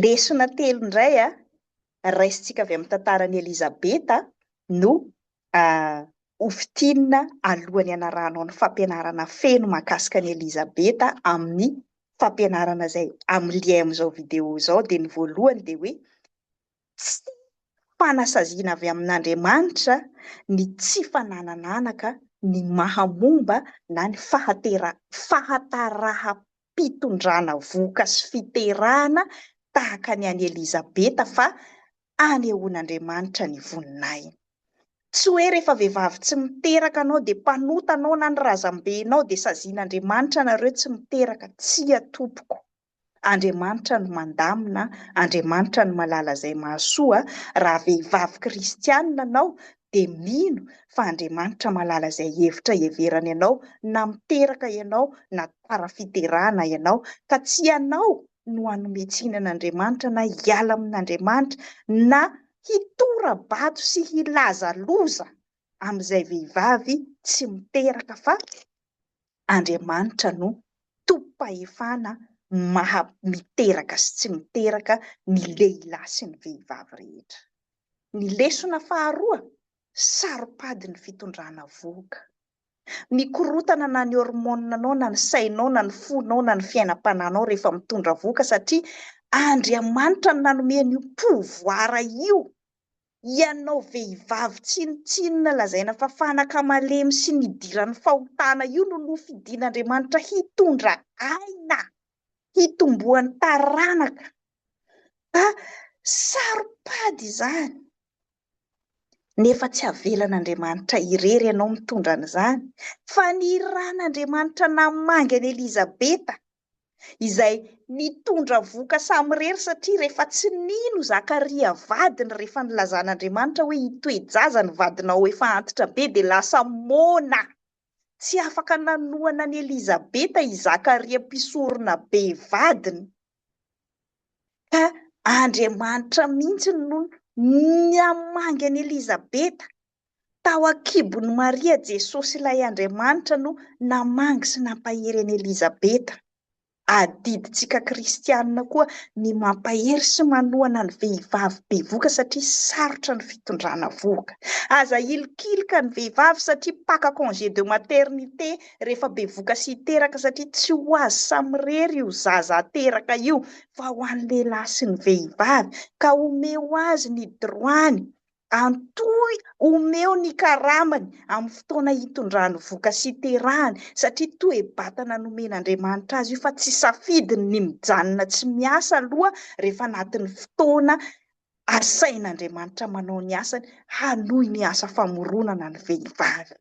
Lesona telo indray raisintsika avy amin'ny tantaran'i Elizabeta no hofintinina alohan'ny hanarahanao ny fampianarana feno mahakasika an'i Elizabeta amin'ny fampianarana izay amin'ny lien amin'izao video izao dia ny voalohany dia hoe Tsy fanasaziana avy amin'Andriamanitra ny tsy fananan'anaka ny maha momba na ny fahatera fahataraham-pitondrana vohoka sy fiterahana tahaka ny an'i Elizabeta fa anehoan'Andriamanitra ny voninahiny. Tsy hoe rehefa vehivavy tsy miteraka anao dia mpanota anao na ny razambenao dia sazian'Andriamanitra nareo tsy miteraka, tsia tompoko. Andriamanitra no mandamina, Andriamanitra no malala izay mahasoa, raha vehivavy kristianina anao dia mino fa Andriamanitra malala izay hevitra heverany anao na miteraka ianao na tara fiterahana ianao ka tsy ianao no hanome tsiny an'Andriamanitra na hiala amin'Andriamanitra na hitora-bato sy hilaza loza amin'izay vehivavy tsy miteraka fa Andriamanitra no Tompom-pahefana maha miteraka sy tsy miteraka ny lehilahy sy ny vehivavy rehetra. Ny lesona faharoa, Saropady ny fitondrana vohoka. Mikorotana na ny hormones nao na ny sainao na ny fonao na ny fiainam-pananao rehefa mitondra vohoka satria Andriamanitra no nanome an'io pouvoir io. Ianao vehivavy tsinontsinona lazaina fa fanaka malemy sy nidiran'ny fahotana io no nofidin'Andriamanitra hitondra aina, hitomboan'ny taranaka. Fa saropady izany. Nefa tsy avelan'Andriamanitra irery ianao mitondra an'izany, fa ny ran'Andriamanitra namangy an'i Elizabeta izay nitondra vohoka samirery satria rehefa tsy nino Zakaria vadiny rehefa nilazan'Andriamanitra hoe hitoe-jaza ny vadinao efa antitra be dia lasa moana. Tsy afaka nanohana an'i Elizabeta i Zakaria mpisorona be vadiny ka Andriamanitra mihitsy no namangy an'i Elizabeta Tao an-kibon'i Maria Jesosy Ilay Andriamanitra no namangy sy nampahery an'i Elizabeta. Adidintsika kristianina koa ny mampahery sy manohana ny vehivavy bevoka satria sarotra ny fitondrana vohoka. Aza hilikilika ny vehivavy satria mpaka congé de maternité rehefa bevoka sy hiteraka satria tsy ho azy samirery io zaza ateraka io fa ho an'ny lehilahy sy ny vehivavy ka omeo azy ny droit-ny Antoy omeo ny karamany amin'ny fotoana hitondrany voka sy hiterahany satria toe-batana nomen'Andriamanitra azy io fa tsy safidiny ny mijanona tsy miasa aloha rehefa anatin'ny fotoana asain'Andriamanitra manao ny asany hanohy ny asa famoronana ny vehivavy.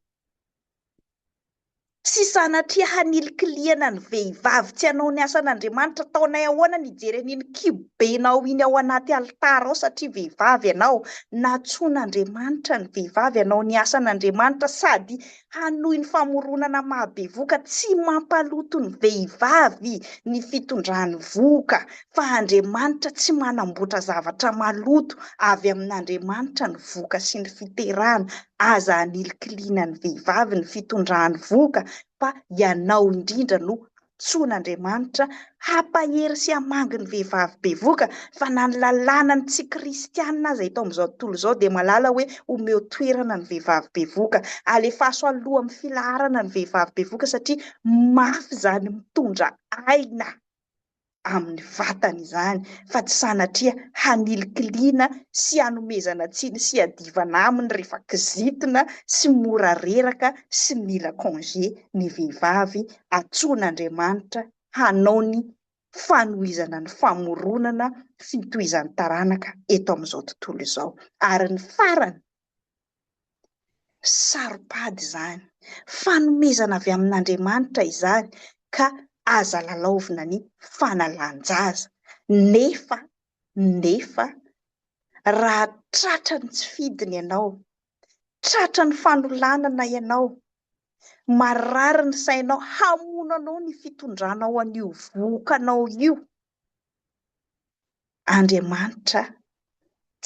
Tsy sanatria hanilikilihana ny vehivavy tsy hanao ny asan'Andriamanitra. Ataonay ahoana ny hijery an'iny kibobenao iny ao anaty alitara ao satria vehivavy ianao? Nantsoin'Andriamanitra ny vehivavy hanao ny asan'Andriamanitra sady hanohy ny famoronana mahabevoka. Tsy mampaloto ny vehivavy ny fitondrany vohoka fa Andriamanitra tsy manamboatra zavatra maloto. Avy amin'Andriamanitra ny vohoka sy ny fiterana. aza anilikiliana ny vehivavy ny fitondrany vohoka fa ianao indrindra no antsoin'Andriamanitra hampahery sy hamangy ny vehivavy bevoka fa na ny lalàna ny tsy kristianina aza eto amin'izao tontolo izao dia malala hoe omeo toerana ny vehivavy bevoka alefaso aloha amin'ny filaharana ny vehivavy bevoka satria mafy izany mitondra aina amin'ny vatany izany fa tsy sanatria hanilikiliana sy hanomezana tsiny sy hiadivana aminy rehefa kizitina sy mora reraka sy mila congé ny vehivavy antsoin'Andriamanitra hanao ny fanohizana ny famoronana fitohizan'ny taranaka eto amin'izao tontolo izao ary ny farany Saro-pady izany. Fanomezana avy amin'Andriamanitra izany ka aza lalaovina ny fanalan-jaza. Nefa, nefa, raha tratra ny tsy fidiny ianao, tratra ny fanolanana ianao, marary ny sainao, hamono anao ny fitondranao an'io vohokanao io, Andriamanitra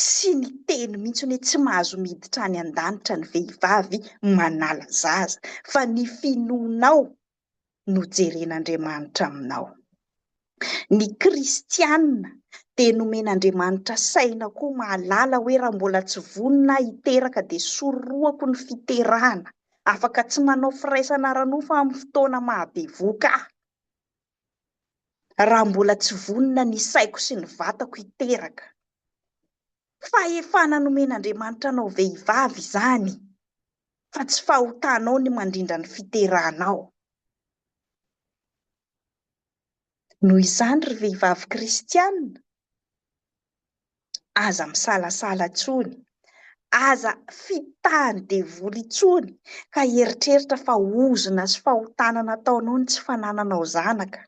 tsy niteny mihitsy hoe tsy mahazo miditra any an-danitra ny vehivavy manala zaza, fa ny finoanao no jeren'Andriamanitra aminao. Ny kristiana dia nomen'Andriamanitra saina koa mahalala hoe raha mbola tsy vonona aho hiteraka dia sorohako ny fiterahana, afaka tsy manao firaisana ara-nofo amin'ny fotoana mahabevoka ahy. raha mbola tsy vonona ny saiko sy ny vatako hiteraka. Fahefana nomen'Andriamanitra anao vehivavy izany fa tsy fahotanao ny mandrindra ny fiterahanao. Noho izany ry vehivavy kristiana, aza misalasala intsony, aza fitahan'ny devoly intsony ka hieritreritra fa ozona sy fahotana nataonao ny tsy fanananao zanaka,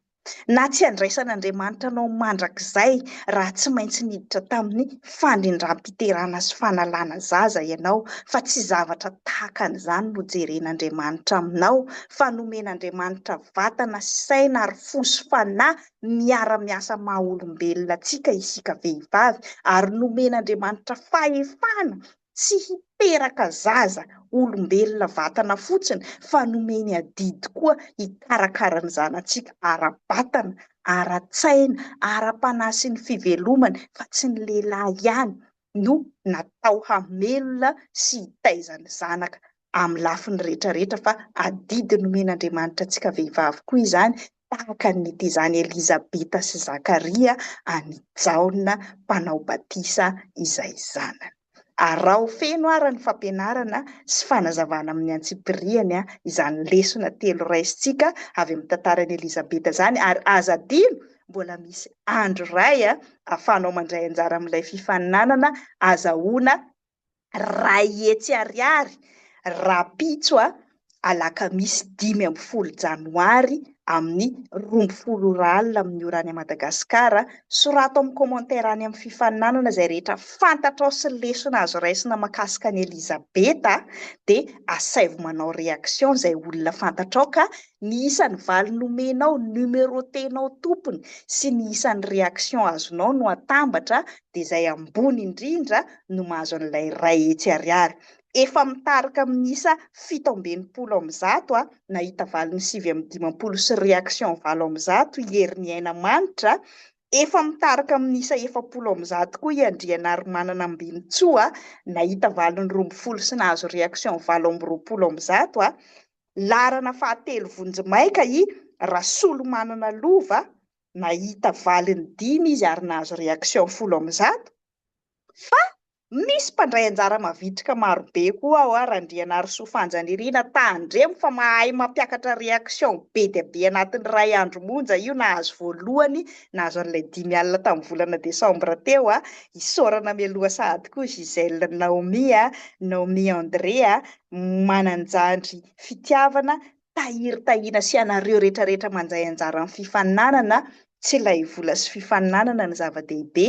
na tsy handraisan'Andriamanitra anao mandrakizay raha tsy maintsy niditra tamin'ny fandrindram-piterana sy fanalana zaza ianao, fa tsy zavatra tahaka an'izany no jeren'Andriamanitra aminao, fa nomen'Andriamanitra vatana sy saina ary fo sy fanahy miara-miasa maha olombelona antsika isika vehivavy ary nomen'Andriamanitra fahefana tsy hiteraka zaza olombelona vatana fotsiny fa nomeny adidy koa hikarakara ny zanatsika ara-batana, ara-tsaina, ara-panahy sy ny fivelomany fa tsy ny lehilahy ihany no natao hamelona sy hitaiza ny zanaka amin'ny lafiny rehetra rehetra fa adidy nomen'Andriamanitra antsika vehivavy koa izany tahaka ny tezan'i Elizabeta sy Zakaria an'i Jaona mpanao batisa izay zanany. Araho feno ara ny fampianarana sy fanazavana amin'ny antsipiriany izany lesona telo raisintsika avy amin'ny tantaran'i Elizabeta izany ary aza adino mbola misy andro iray ahafahanao mandray anjara amin'ilay fifaninanana azahoana Ray hetsy ariary rahampitso a alakamisy dimy ambin'ny folo janoary amin'ny roa ambin'ny folo ora alina amin'ny ora any Madagasikara. Sorato amin'ny commentaire any amin'ny fifaninanana izay rehetra fantatrao sy lesona azo raisina makasika an'i Elizabeta dia asaivo manao réaction izay olona fantatrao ka ny isan'ny valiny omenao, numerotenao tompony sy ny isan'ny réaction azonao no atambatra dia izay ambony indrindra no mahazo an'ilay iray hetsy ariary. Efa mitarika amin'ny isa fito amby enimpolo amin'ny zato, nahita valiny sivy amby dimampolo sy reaction valo amin'ny zato i Heriniainamanitra, efa mitarika amin'ny isa efapolo amin'ny zato koa i Andrianarimanana Ambinintsoa, nahita valiny roa ambin'ny folo sy nahazo reaction valo amby roapolo amin'ny zato, laharana fahatelo vonjimaika i Rasolomanana Lova, nahita valiny dimy izy ary nahazo reaction folo amin'ny zato, fa misy mpandray anjara mavitrika marobe koa ao ary Randrianarisoa Fanjanirina tandremo fa mahay mampiakatra reaction be dia be anatin'ny iray andro monja io nahazo voalohany nahazo an'ilay dimy alina tamin'ny volana desambra teo a isaorana mialoha sahady koa Gisèle Naomie Naomie André Mananjandry Fitiavana tahiry tahiana sy ianareo rehetra rehetra mandray anjara amin'ny fifaninanana, tsy ilay vola sy fifaninanana no zava-dehibe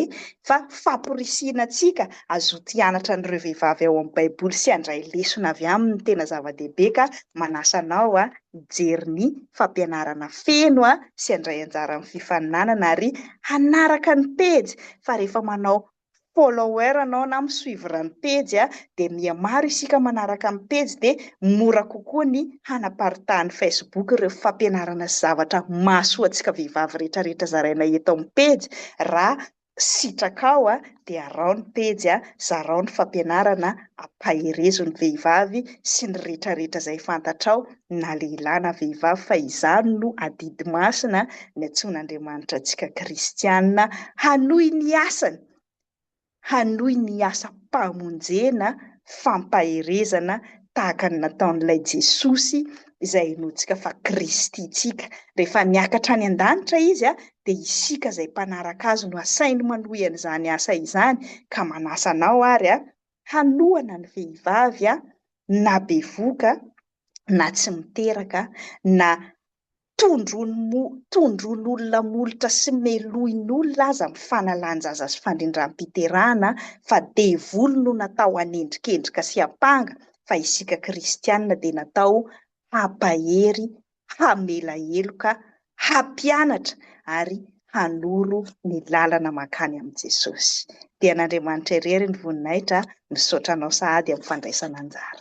fa famporisihina antsika hazoto hianatra an'ireo vehivavy ao amin'ny baiboly sy handray lesona avy aminy no tena zava-dehibe ka manasa anao hijery ny fampianarana feno sy handray anjara amin'ny fifaninanana ary hanaraka ny pejy fa rehefa manao follower anao na mi suivre ny pejy a dia miha maro isika manaraka ny pejy dia mora kokoa ny hanaparitahan'ny Facebook ireo fampianarana sy zavatra mahasoa antsika vehivavy rehetra rehetra zaraina eto amin'ny pejy raha sitraka ao a dia araho ny pejy a zarao ny fampianarana ampaherezo ny vehivavy sy ny rehetra rehetra izay fantatrao na lehilahy na vehivavy fa izany no adidy masina niantsoan'Andriamanitra antsika kristiana hanohy ny asany, hanohy ny asam-pamonjena, fampaherezana tahaka ny nataon'ilay Jesosy izay inoantsika fa Kristy antsika. Rehefa niakatra any an-danitra izy dia isika izay mpanaraka azy no asainy manohy an'izany asa izany ka manasa anao ary hanohana ny vehivavy na bevoka na tsy miteraka na tondroin'olona molotra sy melohin'olona aza amin'ny fanalan-jaza sy fandrindram-piterahana fa devoly no natao hanendrikendrika sy hampanga fa isika kristiana dia natao hampahery hamela heloka, hampianatra ary hanoro ny lalana mankany amin'i Jesosy. Dia an'Andriamanitra irery ny voninahitra, misaotra anao sahady amin'ny fandraisana anjara.